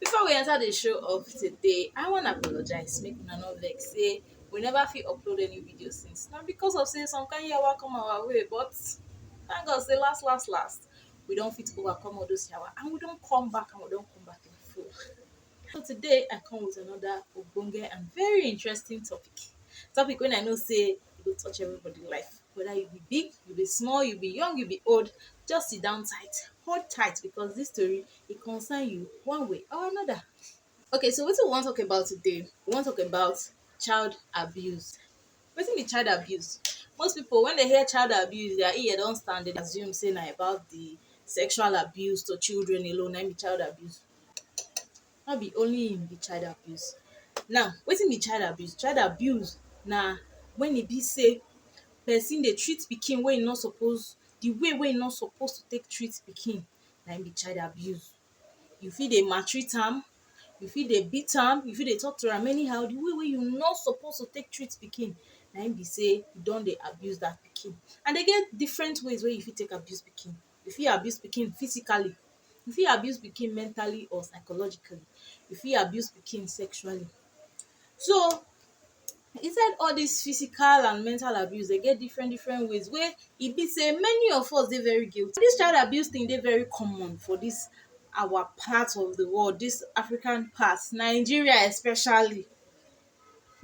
Before we enter the show of today, I wan apologize make una no vex say we never fit upload any video since. Na because of say some kind yawa come our way but thank God say last last last we don fit overcome all those yawa and we don come back and we don come back in full. So today I come with another ogbonge and very interesting topic. Topic wey I know say e go touch everybody life whether you be big, you be small, you be young, you be old just sit down tight, hold tight because this tori e concern you one way or another. Okay so wetin we wan talk about today, we wan talk about child abuse. Wetin be child abuse? Most pipu wen dey hear child abuse dia ear don stand dem dey assume sey na about de sexual abuse to children alone naim be child abuse. No be only im be child abuse. Now wetin be child abuse? Child abuse na wen e be sey person dey treat pikin wey e no suppose de way wey e no suppose take treat pikin na im be child abuse. You fit dey maltreat am, you fit dey beat am, you fit dey talk to am anyhow, the way wey you no suppose to take treat pikin na im be sey you don dey abuse that pikin. And e get different ways wey you fit take abuse pikin. You fit abuse pikin physically, you fit abuse pikin mentally or psychologically, you fit abuse pikin sexually. So Inside all dis physical and mental abuse dey get different different ways wey e be sey many of us dey very guilty. Dis child abuse thing dey very common for dis our part of de world, dis African part, Nigeria especially.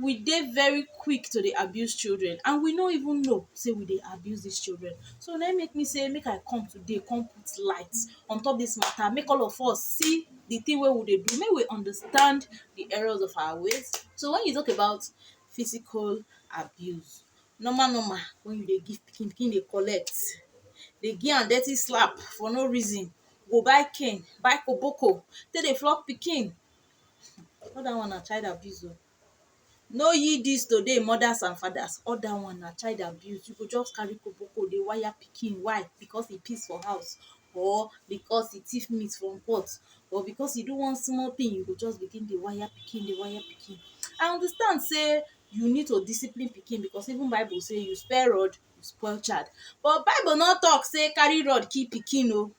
We dey very quick to dey abuse children and we no even know sey we dey abuse dis children. So na im make me sey make I come today come put light on top dis matter make all of us see the thing wey we dey do make we understand the errors of our ways so when you talk about physical abuse normal normal when you dey give pikin pikin dey collect dey give am dirty slap for no reason go buy cane buy koboko take dey flog pikin all that one na child abuse o Know ye dis today mothers and fathers all dat one na child abuse you go just carry koboko dey wire pikin why because e piss for house or because e thief meat from pot or because e do one small thing you go just begin dey wire pikin dey wire pikin I understand sey you need to discipline pikin because even bible sey you spare rod you spoil child but bible no talk sey carry rod kill pikin oo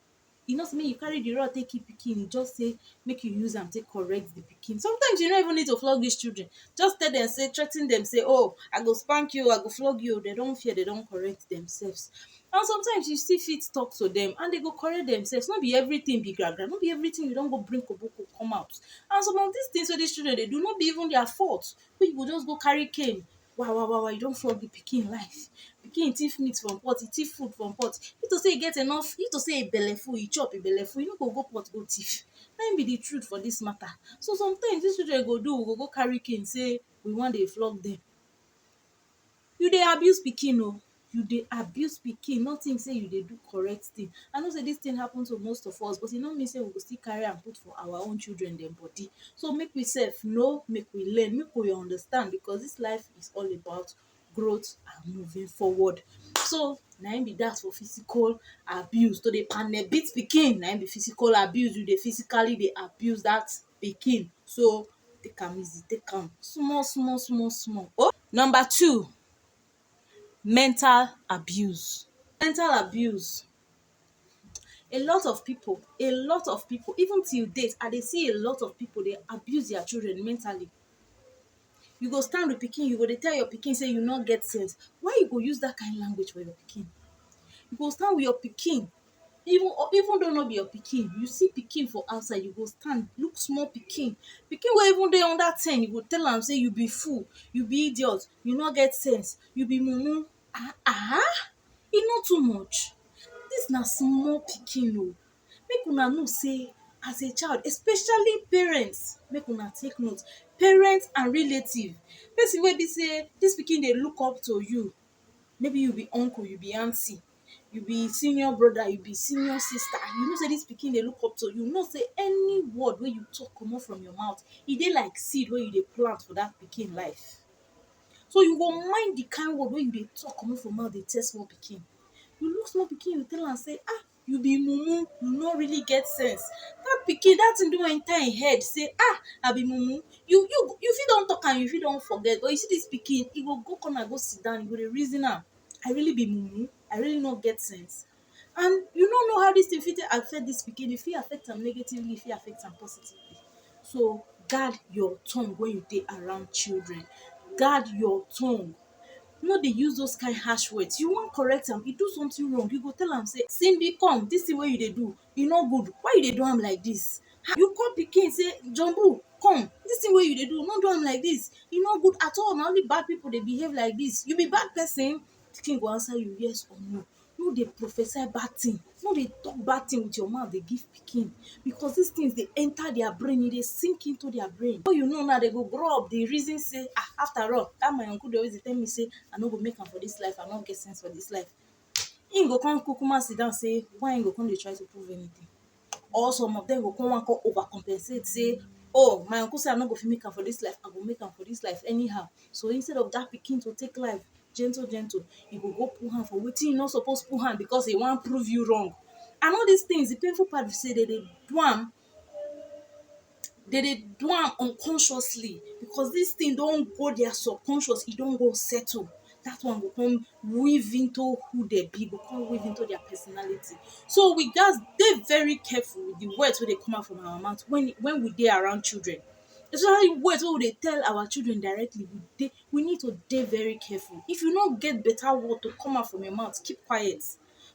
e no sey make you carry di rod take kill pikin, e just sey make you use am take correct di pikin. Sometimes you no even need to flog dis children, just tell dem sey, threa ten dem sey oh, I go spank you oh, I go flog you oh, de don fear, de don correct demsefs. And sometimes you still fit talk to dem and de go correct demsefs, no be everytin be gra gra, no be everytin you don go bring koboko come out. And some of dis tins wey dis children dey do, no be even dia fault, wey you go just go carry cane wa wa wa wa you don flog the pikin life pikin thief meat from pot e thief food from pot if to say e get enough if to say e belle full e chop e belle full e no go go pot go thief na him be the truth for this matter so sometimes this children go do go go carry cane say we wan dey flog them you dey abuse pikin o you dey abuse pikin no think sey you dey do correct thing I know sey dis thing happen to most of us but e no mean sey we go still carry am put for our own children dem body so make we sef know make we learn make we understand because dis life is all about growth and moving forward so na im be dat for physical abuse to dey panel beat pikin na im be physical abuse you dey physically dey abuse dat pikin so take am easy take am small small small small oh number two Mental abuse. Mental abuse, a lot of pipu a lot of pipu even till date I dey see a lot of pipu dey abuse their children mentally. You go stand with pikin you go dey tell your pikin sey you no get sense why you go use dat kain language for your pikin? You go stand with your pikin even or even though no be your pikin you see pikin for outside you go stand look small pikin pikin wey even dey under ten you go tell am say you be fool you be idiot you no get sense you be mumu ah ah e no too much dis na small pikin oo make una know sey as a child especially parents make una take note parents and relatives person wey be sey dis pikin dey look up to you maybe you be uncle you be aunty you be senior brother you be senior sister you know say this pikin dey look up to you you know say any word wey you talk comot from your mouth e dey like seed wey you dey plant for that pikin life so you go mind the kind word wey you dey talk comot from mouth dey tell small pikin you look small pikin you tell am say ah you be mumu you no really get sense that pikin that thing don enter him head say ah i be mumu you you you fit don talk am you fit don forget but you see this pikin e go go corner go sit down e go dey reason am I really be mumu? I really no get sense? And you no know how dis thing fit take affect dis pikin, e fit affect am negatively, e fit affect am positively. So guard your tongue when you dey around children, guard your tongue, no dey use those kain harsh words. You wan correct am, e do something wrong, you go tell am sey Simbi come, dis thing wey you dey do e no good why you dey do am like dis you call pikin say jumbo come dis thing wey you dey do no do am like dis e no good at all na only bad people dey behave like dis you be bad person pikin go answer you yes or no no dey prophesy bad thing no dey talk bad thing with your mouth dey give pikin because dis things dey enter their brain e dey sink into their brain before you know now dem go grow up dey reason say ah after all dat my uncle dey always dey tell me say i no go make am for dis life i no get sense for dis life im go come kukuma sit down sey why im go come dey try to prove anything or some of dem go come wan come over compensate sey oh my uncle sey I no go fit make am for dis life I go make am for dis life anyhow so instead of dat pikin to take life gentle gentle e go go put hand for wetin e no suppose put hand because e wan prove you wrong and all dis things de painful part be sey dem dey do am dey dey do am unconsciously because this thing don go their subconscious e don go settle that one go come weave into who dem be, e go come weave into their personality so we gats dey very careful with the words wey dey come out from our mouth when when we dey around children especially words wey we dey tell our children directly we dey we need to dey very careful if you no get better word to come out from your mouth keep quiet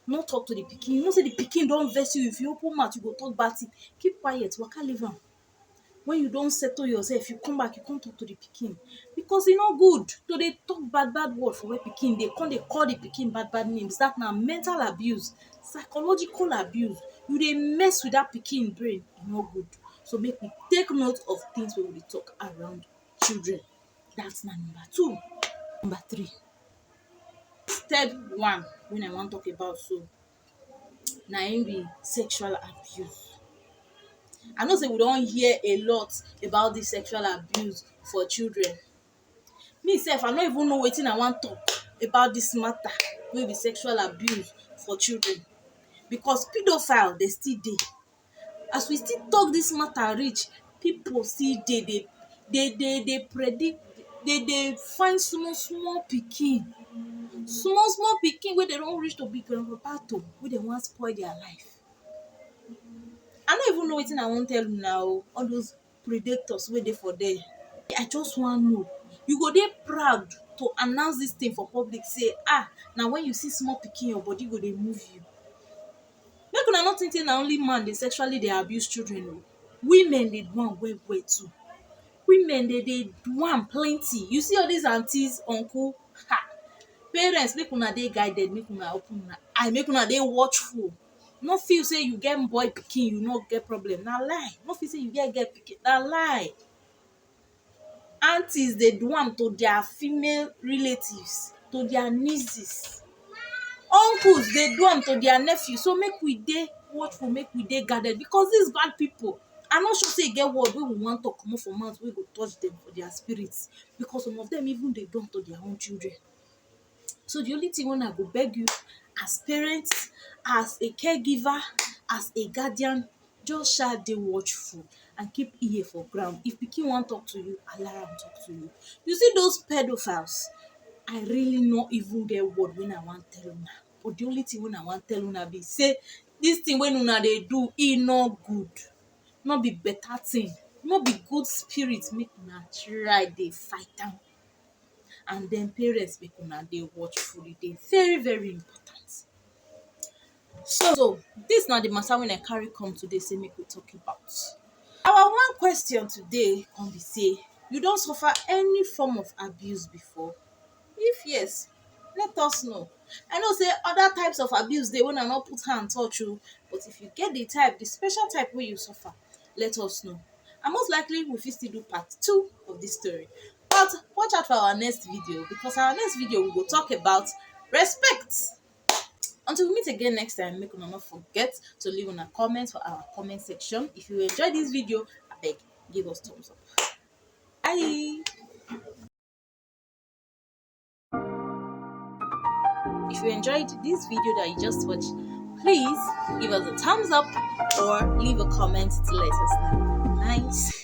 no talk to the pikin you know say the pikin don vex you if you open mouth you go talk bad thing keep quiet waka leave am when you don settle yourself you come back you come talk to the pikin because e no good to dey talk bad bad word for where pikin dey come dey call the pikin bad bad names that na mental abuse psychological abuse you dey mess with that pikin brain e no good so make we take note of things wey we dey talk around children That's na number two. Number three, third one wey I wan talk about so na im be sexual abuse. I know sey we don hear a lot about dis sexual abuse for children. Me sef I no even know wetin I wan talk about dis matter wey be sexual abuse for children because pedophile dem still dey. as we still talk this matter reach people still dey dey dey dey dey predict dey dey find small small pikin small small pikin wey dem don reach to be grand papa to wey dem wan spoil their life i no even know wetin i wan tell una oo all those predators wey dey for there I just wan know you go dey proud to announce this thing for public say ah na when you see small pikin your body go dey move you make una no think say na only man dey sexually dey abuse children oo women dey do am well well too women dem dey do am plenty you see all this aunties uncles um parents make una dey guided make una open una eye make una dey watchful no feel sey you get boy pikin you no get problem na lie, no feel sey you get girl pikin na lie Aunties dey do am to dia female relatives, to dia nieces Uncles dey do am to dia nephews so make we dey watchful make we dey guarded becos dis bad pipo I no sure sey e get word wey we wan talk comot for mouth wey go touch dem for dia spirit becos some of dem even dey do am to dia own children so di only tin wey I go beg you as parent as a care giver as a guardian just sha dey watchful and keep ear for ground if pikin wan talk to you allow am talk to you you see those pedophiles I really no even get word wey I wan tell una but di only tin wey I wan tell una be say dis tin wey una dey do e no good no be beta tin no be good spirit make una try dey fight am and den parents make una dey watchful e dey very very important so dis na di matter wey I carry come today sey make we talk about our one question today come be sey you don suffer any form of abuse before if yes let us know I know sey other types of abuse dey wey I no put hand touch oh but if you get di type di special type wey you suffer let us know and most likely we fit still do part two of dis story but watch out for our next video because our next video we go talk about respect until we meet again next time make una no forget to leave una comment for our comment section if you enjoy this video abeg give us thumbs up bye if you enjoyed this video that you just watched please give us a thumbs up or leave a comment to let us know nice